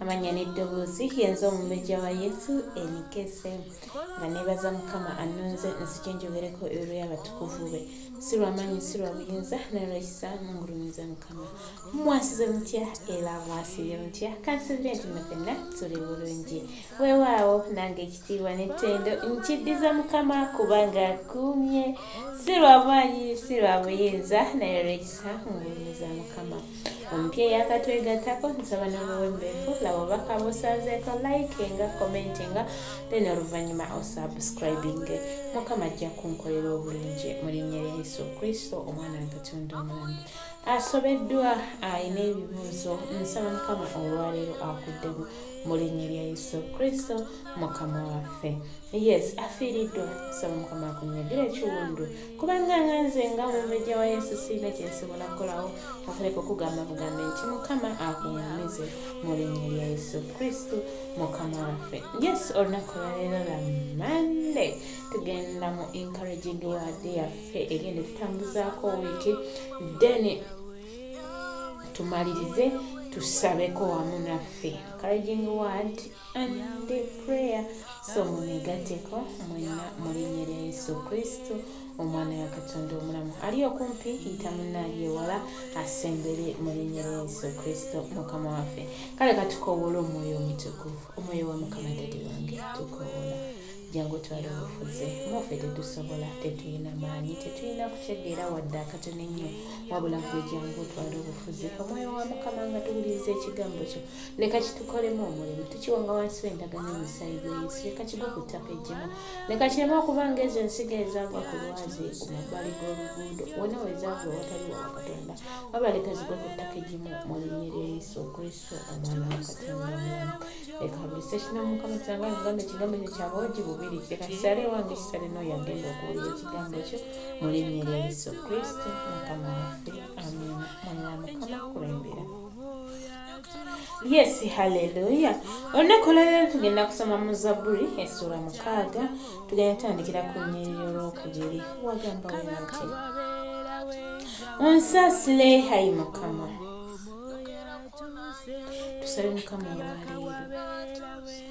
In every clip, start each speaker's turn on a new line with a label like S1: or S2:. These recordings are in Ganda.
S1: amanya n'eddoboozi yenze omumbejja wa yesu enikese nga nebaza mukama annonze nzije njogereko ebiro y'abatukuvu be si lwamaanyi si lwa buyinza naye lwekisa mungulumiza mukama mwasize mutya era mwasize mutya kansubire nti mwe fenna tuli bulungi weewaawo nange ekitiibwa n'ettendo nkiddiza mukama kubanga akuumye si lwamaanyi si lwa buyinza naye lwekisa mungulumiza mukama omupya eyakatwegattako nsaba nomuwembeefu laba obubaka busanzeeko likinga commentinga then oluvannyuma osubscribinge mukama ajja kunkolera obulungi mu linnya lya yesu kristo omwana wa katonda omulamu asobeddwa alina ebibuuzo nsaba mukama olwaleero akuddemu mu linnya lya yesu kristo mukama waffe yes afiiriddwa nsaba mukama akunyagire ekiwundu kubanga nga nze nga omumbejja wa yesu siina kyensobola kukolawo okuleka okugamba bugambe nti mukama akunyumize mu linnya lya yesu kristu mukama waffe yes olunaku lwaleero lwa mande tugenda mu encouraging word yaffe egenda tutambuzaako wiiki then tumalirize tusabeko wamu naffe encouraging word so mumigateko mwena mulinyere yesu kristo omwana wa katonda omulamu ali okumpi yita munaali ewala asembere mulinyere yesu kristo mukama waffe kale katukowoola omwoyo omutukuvu omwoyo wa mukama dadi wange tukowoola jangu twali obufuze mufe tetusobola tetulina maanyi tetulina kutegeera wadde akatono ennyo wabula gwe jangu twali obufuze omwoyo wa mukama nga tuwuliriza ekigambo kyo leka kitukolemu omulimu tukiwonga wansi w'endagano omusaayi gwa yesu leka kigwe ku ttaka ejjemu leka kireme okuba nga ezo ensiga ezagwa ku lwazi ku mabbali g'oluguudo wona wezagwa watali wa katonda waba leka zigwe ku ttaka ejjemu mu linnya lya yesu kristo omwana wa katonda omulamu leka buli sekina mukama kyanga ngambe ekigambo ekyo kya bwogi bubiri leka kisale wange kisale n'oyo agenda okuwulira ekigambo kyo mu linnya lya yesu kristo mukama waffe amina mwana wa mukama kulembera yesi haleluya olunaku olwalero tugenda kusoma mu zabbuli essuula mukaaga tugenda tandikira ku nyeri y'olwokubiri wagamba wenati onsasile hayi mukama tusabe mukama olwaleero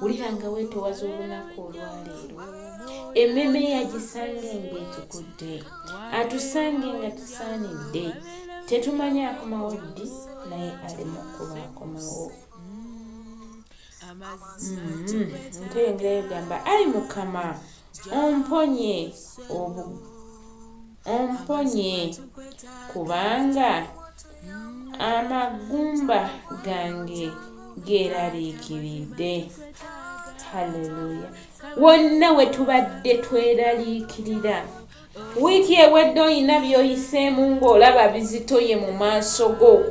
S1: wulira nga weetowaza olunaku olwaleero emmeeme ye agisange ng'etukudde atusange nga tusaanidde tetumanyi akomawo ddi naye ali mu kkuba akomawo ntengera egamba ayi mukama omponye obu omponye kubanga amagumba gange geeraliikiridde halleluya wonna we tubadde tweraliikirira wiiki ewedde olina by'oyiseemu ng'olaba bizitoye mu maaso go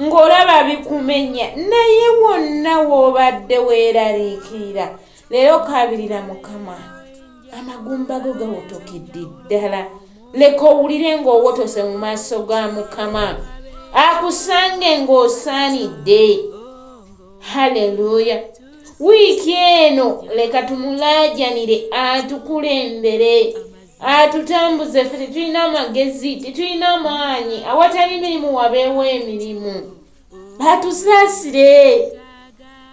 S1: ng'olaba bikumenya naye wonna w'obadde weeraliikirira leero kaabirira mukama amagumba go gawotokedde ddala leka owulire ng'owotose mu maaso ga mukama akusange ng'osaanidde haleluya wiiki eno leka tumulaajanire atukulembere atutambuze ffe tetulina amagezi tetulina maanyi awatali mirimu wabeewo emirimu batusaasire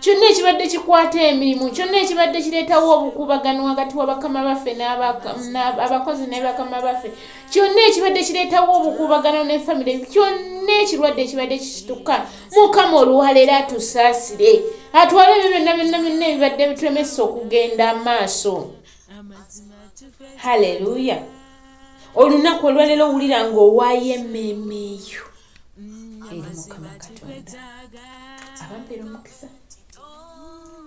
S1: kyonna ekibadde kikwata emirimu kyonna ekibadde kireetawo obukuubagano wakati wabakama baffe abakozi ne bakama baffe kyonna ekibadde kireetawo obukuubagano ne famire kyonna ekirwadde ekibadde kikituka mukama oluwaleero atusaasire atwale ebyo byonna byonna byonna ebibadde bituremesa okugenda amaaso haleluya olunaku olwaleero owulira ng'owaayo emmeeme eyo eri mukama katonda abampera omukisa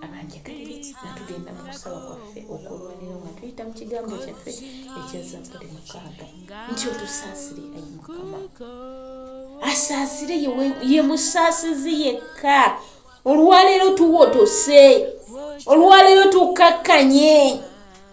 S1: abanjegalire nga tugenda mu kusaba kwaffe okulwanira nga tuyita mu kigambo kyaffe ekya zabbuli mukaaga nti otusaasire ayi mukama asaasire ye musaasizi yekka olwaleero tuwotose olwaleero tukkakkanye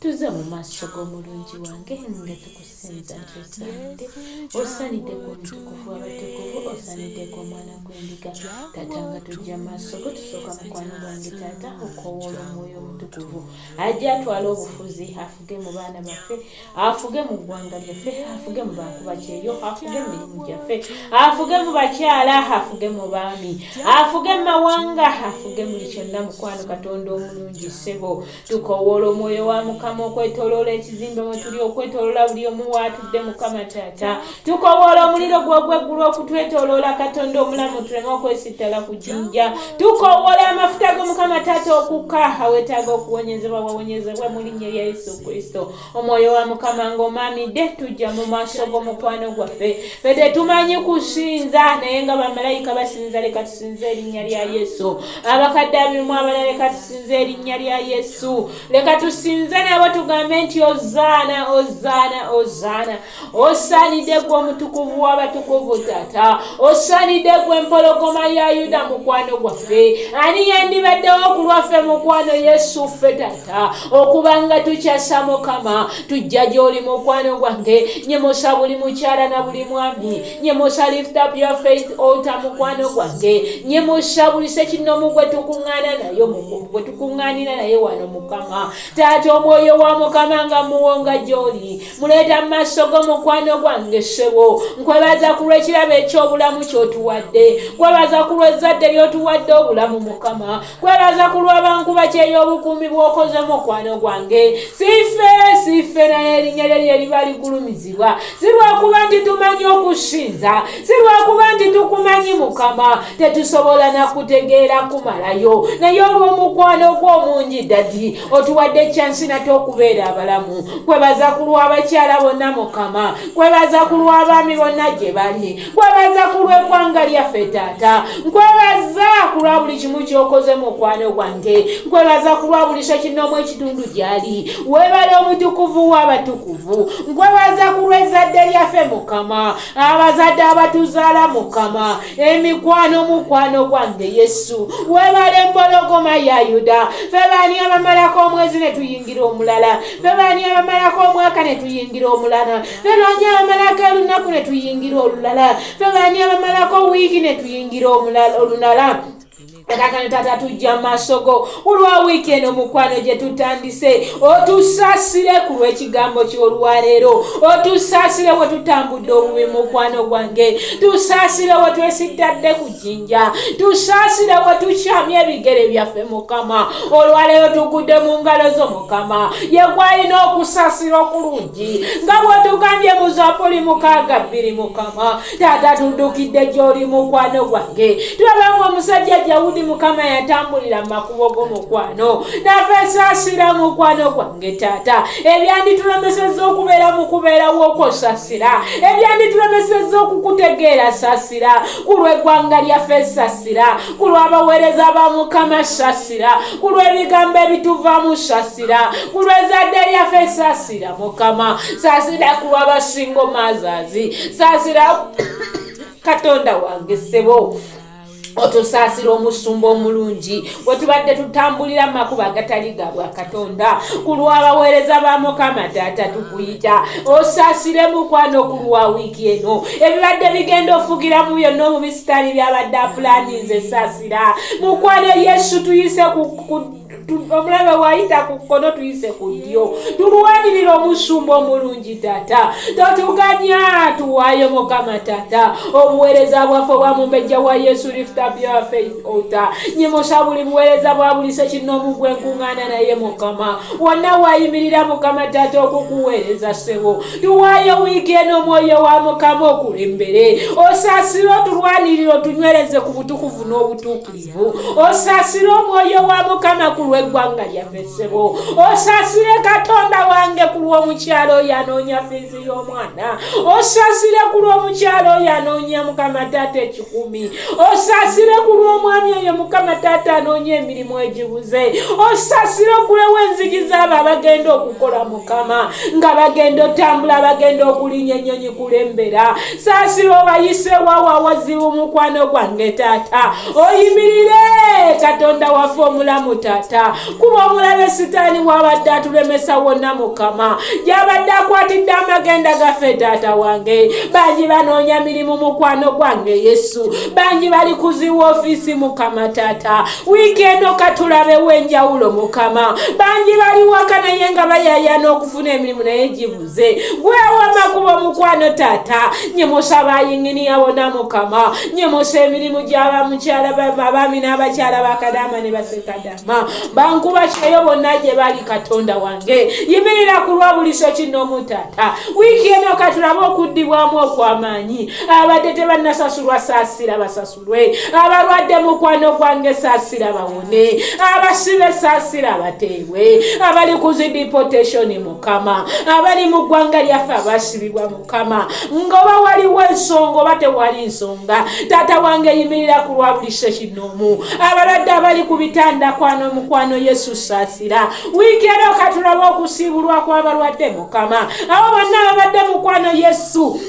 S1: tuze mu maaso g'omulungi wange nga tukusinza nti osaanidde osaanidde ku mutukuvu abatukuvu osaanidde ku omwana gw'endiga taata nga tujja maaso go tusooka mukwano gwange taata okowoola omwoyo omutukuvu ajja atwala obufuzi afuge mu baana baffe afuge mu ggwanga lyaffe afuge mu bantu bakyeyo afuge mu mirimu gyaffe afuge mu bakyala afuge mu baami afuge mu mawanga afuge muli kyonna mukwano katonda omulungi ssebo tukowoola omwoyo wa mukama okwetoloola ekizimbe mwe tuli okwetoloola buli omu waatudde mukama taata tukowoola omuliro gwogweggulu okutwetoloola katonda omulamu tuleme okwesittala ku jinja tukowoola amafuta go mukama taata okukka awetaaga okuwonyezebwa wawonyezebwa mu linnya lya yesu kristo omwoyo wa mukama ng'omaamidde tujja mu maaso g'omukwano gwaffe fe tetumanyi kusinza naye nga bamalayika basinza leka tusinze erinnya lya yesu abakadde abirimu abala leka tusinze erinnya lya yesu leka tusinze nabo tugambe nti ozaana ozaana ozaana osaanidde gwe omutukuvu w'abatukuvu taata osaanidde gwe empologoma ya yuda mukwano gwaffe ani yandibaddewo ku lwaffe mukwano yesu ffe taata okubanga tukyasa mukama tujja gy'oli mukwano gwange nyemusa buli mukyala na buli mwami nyemusa lift up your faith ota mukwano gwange nyemusa buli sekinnomu gwe tukuŋŋaana nayo gwe tukuŋŋaanira naye wano mukama taata omwoyo wa mukama nga muwonga gy'oli muleeta mu maaso go mukwano gwange ssebo nkwebaza ku lw'ekirabo eky'obulamu ky'otuwadde kwebaza ku lw'ezzadde ly'otuwadde obulamu mukama kwebaza ku lw'abanku bakyeyo obukuumi bw'okoze mukwano gwange sife sife naye erinnya lye lye liba ligulumizibwa si lwakuba nti tumanyi okusinza si lwakuba nti tukumanyi mukama tetusobola nakutegeera kumalayo naye olw'omukwano gw'omungi dadi otuwadde kyansi nate okubeera abalamu kwebaza ku lw'abakyala bonna mukama kwebaza ku lw'abaami bonna gye bali kwebaza ku lw'eggwanga lyaffe taata nkwebaza ku lwa buli kimu kyokoze mu mukwano gwange nkwebaza ku lwa buli sekinoomu ekitundu gyali webale omutukuvu w'abatukuvu nkwebaza ku lw'ezzadde lyaffe mukama abazadde abatuzaala mukama emikwano mukwano gwange yesu webale empologoma ya yuda fe baani abamalako omwezi ne tuyingira omulala fe baani abamalako omwaka ne tuyingira omulala fe baani abamalako olunaku ne tuyingira olulala fe baani abamalako wiiki ne tuyingira olunala kakano taata tujja masogo olwa wiiki eno mukwano gye tutandise otusaasire ku lw'ekigambo ky'olwaleero otusaasire we tutambudde obubi mukwano gwange tusaasire we twesittadde ku jjinja tusaasire we tukyamya ebigere byaffe mukama olwaleero tugudde mu ngalo zo mukama yegwalina okusaasira okulungi nga bwetugambye mu zabuli mukaaga bbiri mukama taata tuddukidde gy'oli mukwano gwange tulaba nga omusajja jawudi mukama yatambulira mu makubo go mukwano nafe sasira mukwano gwange taata ebyanditulemeseza okubeera mu kubeerawo okwo sasira ebyanditulemeseza okukutegeera sasira ku lw'eggwanga lyaffe sasira ku lw'abaweereza ba mukama sasira ku lw'ebigambo ebituvaamu sasira ku lw'ezadde lyaffe sasira sasira mukama sasira kuwa basingo mazazi sasira katonda wange sebo otusaasira omusumba omulungi wetubadde tutambulira makuba agatali ga bwa katonda ku lw'abaweereza ba mukama taata tukuyita osaasire mukwano ku lwa wiiki eno ebibadde bigenda ofugira mu byonna omubisitaani byabadde apulaninze saasira mukwano yesu tuyise ku omulabe wayita ku kkono tuyise ku ddyo tulwanirira omusumba omulungi tata totuganya tuwayo mukama tata obuweereza bwaffe obwa mumbejja wa yesu liftupyourfaithota nyimusa buli buweereza bwa buli sekinoomu gwe nkuŋŋaana naye mukama wonna wayimirira mukama tata okukuweereza ssebo tuwayo wiiki eno omwoyo wa mukama okulembere osaasire otulwanirira otunywereze ku butukuvu n'obutuukirivu osasire omwoyo wa mukama ku lw'eggwanga lyaffe ssebo osasire katonda wange ku lw'omukyalo oyo anoonya fiizi y'omwana osasire ku lw'omukyalo oyo anoonya mukama taata ekikumi osasire ku lw'omwami oyo mukama taata anoonya emirimu egibuze osasire ogulewo enzigi zaabo abagenda okukola mukama nga bagenda otambula bagenda okulinya ennyonyi kulembera saasira obayise wawa wazibu mukwano gwange taata oyimirire katonda waffe omulamu taata kuba omulabe sitaani wabadde atulemesa wonna mukama gyabadde akwatidde amagenda gaffe taata wange bangi banoonya mirimu mukwano gwange yesu bangi bali kuziwa ofiisi mukama taata wiiki eno katulabewo enjawulo mukama bangi bali waka naye nga bayayana okufuna emirimu naye gibu ze gwewama kuba mukwano tata nyemosa bayingini yabona mukama nyemosa emirimu gyaba mukyala abaami n'abakyala bakadama ne basekadama bankuba kyeyo bonna gye bali katonda wange yimirira ku lwa buliso kinomu tata wiiki eno katulabe okuddibwamu okw'amaanyi abadde tebannasasulwa saasira basasu lwe abalwadde mukwano gwange saasira bawone abasibe saasira abateebwe abali ku zi dipotationi mukama abali mu ggwanga lyaffe abasibibwa mukama ngoba waliwo ensonga oba tewali nsonga taata wange yimirira ku lwa buli sekinoomu abalwadde abali ku bitanda kwano mukwano yesu saasira wiiki era okatulabe okusiibulwa kw'abalwadde mukama abo bonna ababadde mukwano yesu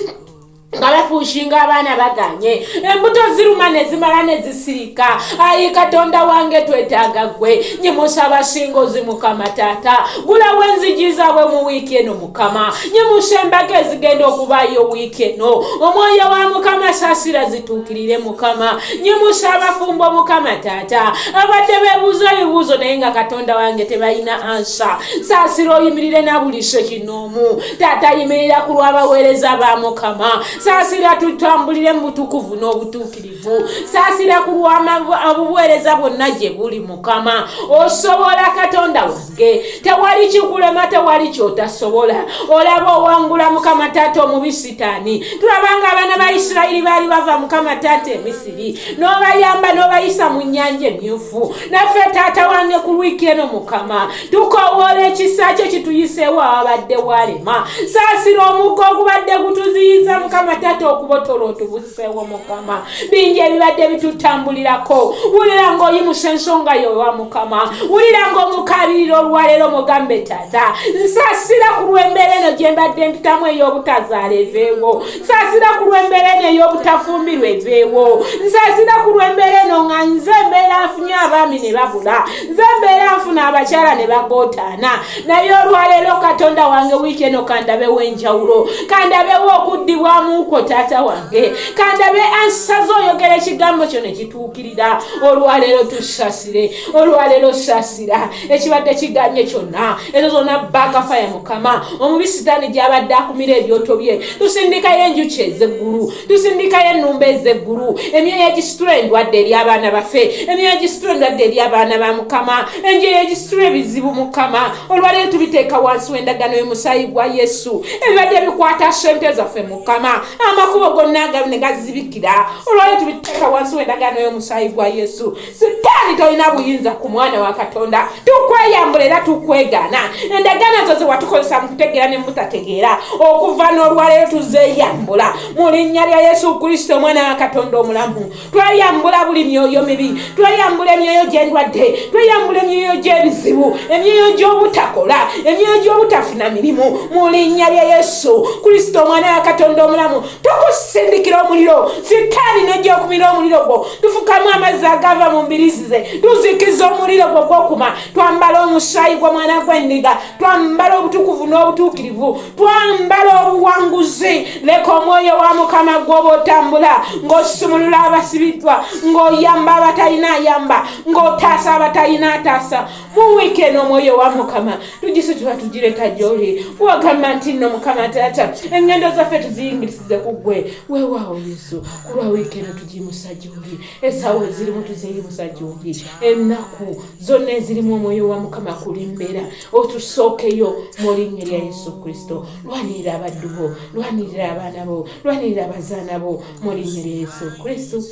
S1: nga bafuushinga abaana baganye embuto ziruma nezimala nezisirika ayi katonda wange twetaaga gwe nyimusaba singozi mukama taata gulawo enzigi zaabwe mu wiiki eno mukama nyimusa embaga ezigenda okubaayo wiiki eno omwoyo wa mukama saasira zituukirire mukama nyimusa abafumbo mukama taata abadde bebuuza ebibuuzo naye nga katonda wange tebalina ansa saasira oyimirire nabuliso kino mu taata yimirira ku lw'abaweereza ba mukama saasira tutambulire mu butukuvu n'obutuukirivu saasira ku lw'obuweereza bwonna gye buli mukama osobola katonda wange tewali kikulema tewali kyotasobola olaba owangula mukama taata omubi sitaani tulabanga abaana ba isirayiri baali bava mukama taata emisiri n'obayamba n'obayisa mu nnyanja emyufu naffe taata wange ku lwiki eno mukama tukowoola ekisa kye kituyiseewo ababadde walema saasira omukko ogubadde gutuziyiza mukama taata okubotola otubuseewo mukama bingi ebibadde bitutambulirako wulira ngaoyimusa ensonga yowa mukama wulira ngaomukabirira olwaleero mugambe taata nsaasira ku lwembeera eno gye mbadde mpitamu ey'obutazaala eveewo nsaasira ku lwembeera eno ey'obutafumbirwa eveewo nsaasira ku lwembeera eno nga nze mbeera nfunye abaami ne babula nze mbeera nfuna abakyala ne bagotaana naye olwaleero katonda wange wiiki eno kandabewo enjawulo kandabewo okuddibwamuuko taata wange kandabe ansaze oyogera ekigambo kyo ne kituukirira olwaleero tusasire olwaleero sasira ekibadde kiganye kyonna ezo zonna bakafaya mukama omubi sitaani gyabadde akumira ebyoto bye tusindikayo enjuki ezeggulu tusindikayo ennumba ezeggulu emyoyo egisitula endwadde eri abaana baffe emyoyo egisitula endwadde eri abaana ba mukama enjoyo egisitula ebizibu mukama olwaleero tubiteeka wansi w'endagano y'omusaayi gwa yesu ebibadde bikwata sente zaffe mukama amakubo gonna ne gazibikira olwaleero tubiteeka wansi w'endagano y'omusaayi gwa yesu sitaani tolina buyinza ku mwana wa katonda tukweyambula era tukwegana endagaano zo zewatukozesa mu kutegeera ne mutategeera okuva n'olwaleero tuzeyambula mu linnya lya yesu kristo omwana wa katonda omulamu tweyambula buli myoyo mibi tweyambula emyoyo gy'endwadde tweyambula emyoyo gy'ebizibu emyoyo gy'obutakola emyoyo gy'obutafuna mirimu mu linnya lya yesu kristo omwana wa katonda omulamu tukusindikira omuliro sitaani nojja okumira omuliro gwo tufukamu amazzi agava mu mbirizi ze tuzikiza omuliro gwo gwokuma twambala omusaayi gw'omwana gw'endiga twambala obutukuvu n'obutuukirivu twambala obuwanguzi leka omwoyo wa mukama gwoba otambula ng'osumulula abasibiddwa ng'oyamba abatalina ayamba ng'otaasa abatalina ataasa mu wiiki eno omwoyo wa mukama tugisitula tugireka gyoli wagamba nti nno mukama taata engendo zaffe tuziyingirisize ku ggwe weewaawo yesu kulwa wiiki eno tugimusa gyoli esaawa ezirimu tuziyimusa gyoli ennaku zonna ezirimu omwoyo wa mukama kulimbera otusookeyo mu linnya lya yesu kristo lwanirira abaddu bo lwanirira abaana bo lwanirira abazaana bo mu linnya lya yesu kristo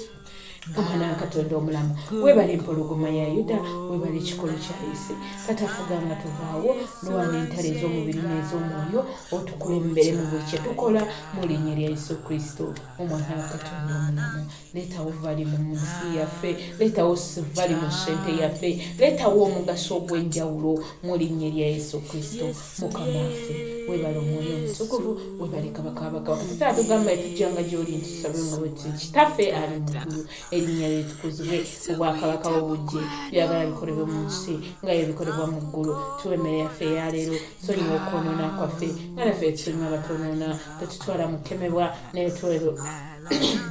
S1: omwana wa katonda omulamu webale empologoma ya yuda webale ekikolo kya yesu katafuga nga tuvaawo lwana entalo ez'omubiri n'ez'omwoyo otukulembere mu buli kye tukola mu linnya lya yesu kristo omwana wa katonda omulamu leetawo vali mu nsi yaffe leetawo vali mu sente yaffe leetawo omugaso ogw'enjawulo mu linnya lya yesu kristo mukama waffe webale omwoyo omutukuvu webale kabaka wabakabaka tusaba tugamba etujjanga gyoli ntusabe nga bweti kitaffe ali mugulu erinnya lyetukuzibwe obwakabaka bobujje byagala bikolebwe mu nsi nga yebikolebwa mu ggulu tuwa emmere yaffe eyaleero sonyiwa okwonoona kwaffe nga naffe etusonyiwa abatwonoona tetutwala mu kukemebwa naye twero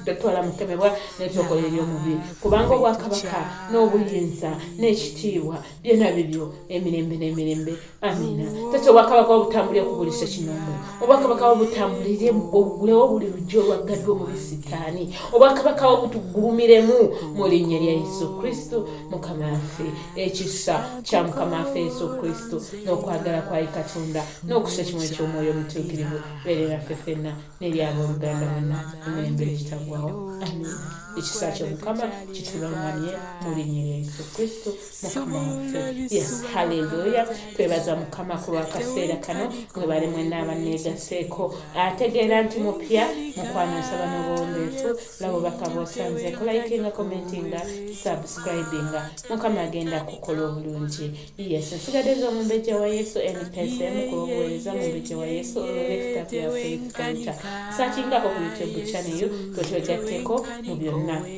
S1: tetwala mukemebwa netyokola eri omubiri kubanga obwakabaka n'obuyinza n'ekitiibwa byona bibyo emirembe n'emirembe amina tata obwakabaka obutambulire ku buli sekinomu obwakabaka obutambulire ogulewo buli lujja olwaggaddwa mu bisitaani obwakabaka obutugulumiremu mu linnya lya yesu kristo mukama waffe ekisa kya mukama waffe yesu kristo n'okwagala kwali katonda n'okusa ekimu eky'omwoyo omutuukirivu beere naffe fenna n'eryabooluganda wonna emirembe ekitagwawo amina ekisa kyomukama kitulungamye mu linnya lya yesu kristo yes haleluya twebaza mukama ku lwakaseera kano mwebale mwena abaneegaseeko ategeera nti mupya mukwano nsaba n'obuwombeefu labo bakabosanze kulayikinga commentinga subscribinga mukama agenda kukola obulungi yes nsigadde eza omumbejja wa yesu npsm ku lwobuweereza mumbejja wa yesu olwolekita bya faith kanta sakinga okuyitebukyaneyo twetwegatteko mu byonna